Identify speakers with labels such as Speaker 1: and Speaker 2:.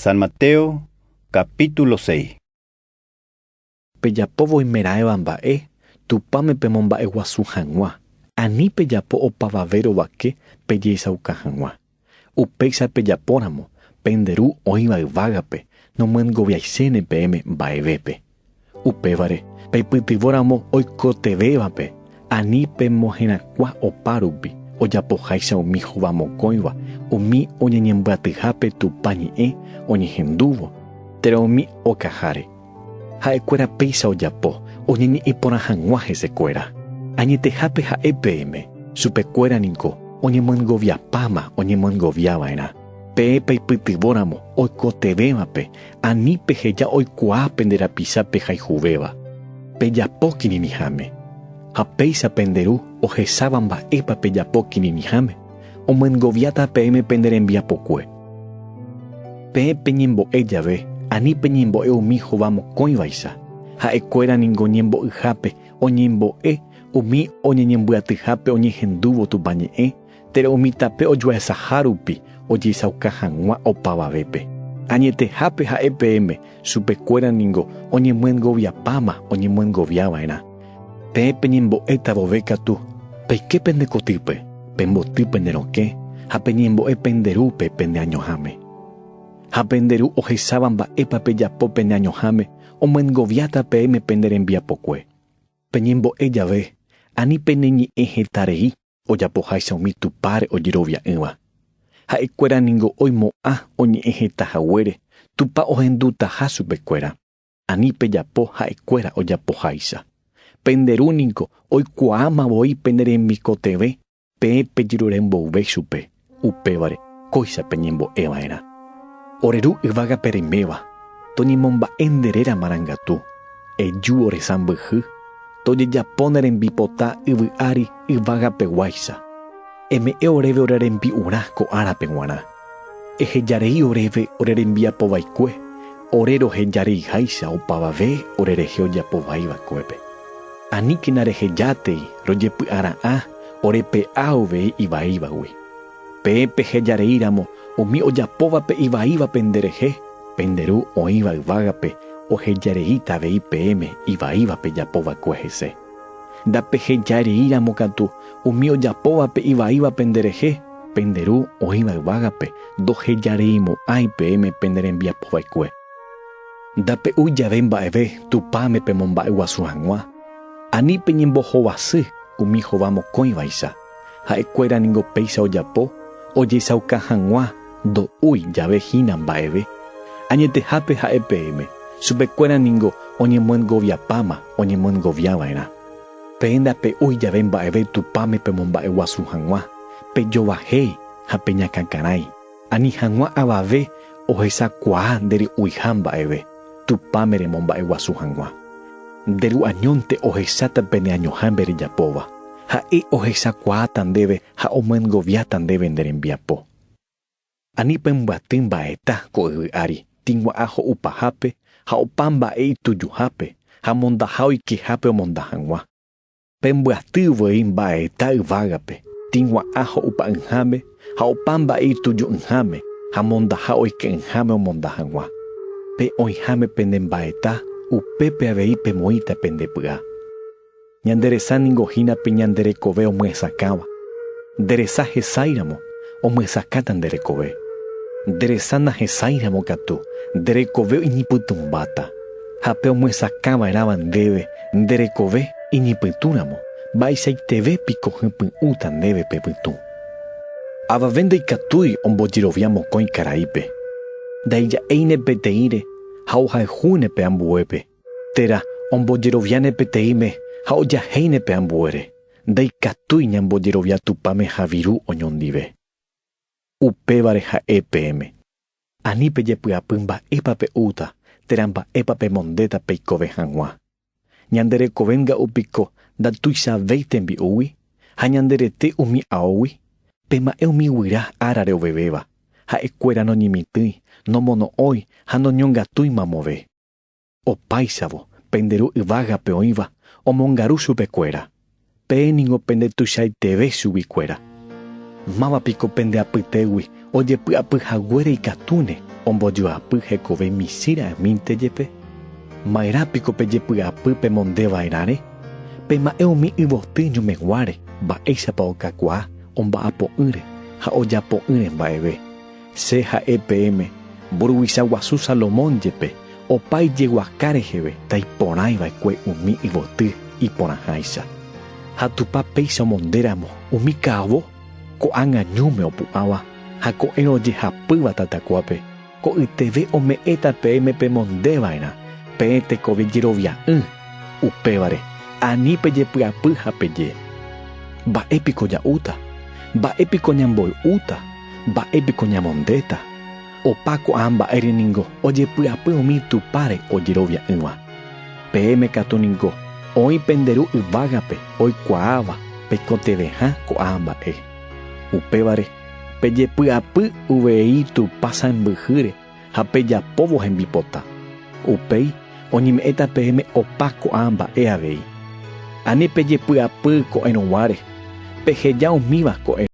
Speaker 1: San Mateo, capítulo 6. Pejapo
Speaker 2: voimeraẽva mba'e Tupãme pemomba'eguasu hag̃ua, ani pejapo opavave rovake pejeichauka hag̃ua. Upéicha pejapóramo, pende Ru oĩva yvágape nomyengoviaiséne peẽme mba'evépe. Upévare, peipytyvõ ramo oikotevẽvape, ani pemoherakuã opa rupi, ojapoháicha umi hova mokõiva, umi oñeñembyatyhápe Tupã ñe'ẽ oñehendúvo, térã umi okaháre. Ha'ekuéra péicha ojapo oñeñe'ẽ porã hag̃ua hesekuéra. Añetehápe ha'e peẽme, chupekuéra niko oñemyendgoviapáma oñemyendgoviava'erã, peẽ peipytyvõ ramo oikotevẽvape, Ani peheja oikuaa pende rapicha pehayhuvéva, pejapo kirirĩháme. Ha péicha pende Ru ohecháva mba'épa pejapo kirirĩháme, omyengoviáta peẽme pende rembiapokue. Peẽ peñembo'e jave, ani peñembo'e umi hova mokõivaicha, ha'ekuéra ningo ñembo'yhápe oñembo'e umi oñeñembyatyhápe oñehendúvo Tupã ñe'ẽ, Térã umi tape ojuehesaha rupi ojeichauka hag̃ua opavavépe. Añetehápe ha'e peẽme, chupekuéra ningo oñemyengoviapáma oñemyengovia va'erã. Peẽ peñembo'éta vove katu, peike pende kotýpe, pemboty pende rokẽ ha peñembo'e pende rúpe pende añoháme. Ha pende ru ohecháva mba'épa pejapo pende añoháme omyengoviáta peẽme pende rembiapokue. Peñembo'e jave, ani peneñe'ẽ heta rei, ojapoháicha umi Tupãre ojerovia'ỹva. Ha'ekuéra ningo oimo'ã oñe'ẽ heta haguére Tupã ohendutaha chupekuéra. Ani pejapo ha'ekuéra ojapoháicha. Pende Ru ningo oikuaáma voi pene rembikotevẽ peẽ pejerure mboyve chupe. Upévare, kóicha peñembo'e va'erã. Ore Ru yvága pereméva, toñemomba'e nde réra marangatu, eju ore sãmbyhy, tojejapo ne rembipota yvy ári yvága peguáicha. Eme'ẽ oréve ore rembi'urã ko árape guarã. Eheja rei oréve ore rembiapo vaikue, ore roheja rei háicha opavave ore rehe ojapo vai vakuépe. Aníkena reheja tei rojepy'ara'ã Ore pe'a avei ivaívagui. Peẽ pehejareíramo umi ojapóvape ivaíva penderehe, pende Ru oĩva yvágape ohejareíta avei peẽme ivaíva pejapo va'ekue hese. Ndapehejareíramo katu umi ojapóvape ivaíva penderehe, pende Ru oĩva yvágape ndohejareimo'ãi peẽme pene rembiapo va'ekue. Ndape'úi jave mba'eve Tupãme pemomba'eguasu hag̃ua, Ani peñembohovasy umi hova mokõivaicha, ha'ekuéra ningo péicha ojapo ojesauka hag̃ua ndo'úi jave hína mba'eve. Añetehápe ha'e peẽme, chupekuéra ningo oñemyendgoviapáma oñemyendgovia va'erã. Peẽ ndape'úi jave mba'eve Tupãme pemomba'eguasu hag̃ua, pejovahéi ha peñakãkarãi. Ani hag̃ua avave ohechakuaa nde ry'uiha mba'eve, Tupãme remomba'eguasu hag̃ua. Nde ru'añónte ohecháta pene añoha nde rejapóva. Ha'e ohechakuaáta ndéve ha omyengoviáta ndéve nde rembiapo. Ani pembyaty mba'eta ko yvy ári, tĩgua'a ho'upahápe ha opa mba'e itujuhápe, ha mondaha oikehápe omonda hag̃ua. Pembyaty voi mba'eta yvágape, tĩgua'ã ho'upa'ỹháme ha opa mba'e ituju'ỹháme ha mondaha oike'ỹháme omonda hag̃ua. Pe oĩháme pene mba'eta, upépe avei pemoĩta pende py'a. Ñande resa ningo hína pe ñande rekove omyesakãva. Nde resa hesáiramo, omyesakáta nde rekove. Nde resa nahesáiramo katu, nde rekove oñepytũmbáta. Ha pe omyesakãva'erãva ndéve nde rekove iñypytũramo, mba'eichaiteve piko hypy'ũta ndéve pe pytũ. Avave ndaikatúi ombojerovia mokõi karaípe, ndaija'éine peteĩre ha ohayhúne pe ambuépe, térã ombojeroviáne peteĩme ha ojahéine pe ambuére, ndaikatúi ñambojerovia Tupãme ha viru oñondive. Upévare ha'e peẽme. Ani pejepy'apy mba'épa pe'úta térã mba'épa pemondéta peikove hag̃ua. Ñande rekove nga'u piko ndatuichavéi tembi'úgui ha ñande rete umi aógui? Pema'ẽ umi guyra árare ovevéva, ha'ekuéra noñemitỹi, nomono'õi ha noñongatúi mamove. Opáichavo, pende ru yvágape oĩva omongaru chupekuéra, peẽ ningo pende tuichaiteve chuguikuéra. Máva piko pende apytégui ojepy'apy haguére ikatúne ombojoapy hekove michĩ ra'ymínte jepe? Maerã piko pejepy'apy pemonde vaerãre? Pema'ẽ umi yvoty ñomeguáre mba'éichapa okakuaa omba'apo'ỹre ha ojapo'ỹre mba'eve, Che ha'e peẽme, mburuvicha guasu Salomón jepe, opa ijeguaka reheve taiporãi va'ekue umi yvoty iporãháicha. Ha Tupã péicha omonde ramo umi ka'avo ko'ág̃a ñúme opu'ãva ha ko'ẽrõ ojehapýva tatakuápe, ko'yteve ome'ẽta peẽme pemonde va'erã peẽ tekove jerovia'ỹ, upévare ani pejepy'apy ha peje, Mba'e piko ja'úta? Mba'e piko ñamboy'úta? Mba'e piko ñamondéta? Opa ko'ã mba'ére ningo ojepy'apy umi Tupãre ojerovia'ỹva. Peẽme katu ningo oĩ pende Ru yvágape oikuaáva pekotevẽha ko'ã mba'e. Upévare, pejepy'apy uvei Tupã sãmbyhýre ha pejapóvo hembipota. Upéi oñeme'ẽta peẽme opa ko'ã mba'e avei. Ani pejepy'apy ko'ẽrõguáre, peheja umíva ko'ẽrõ.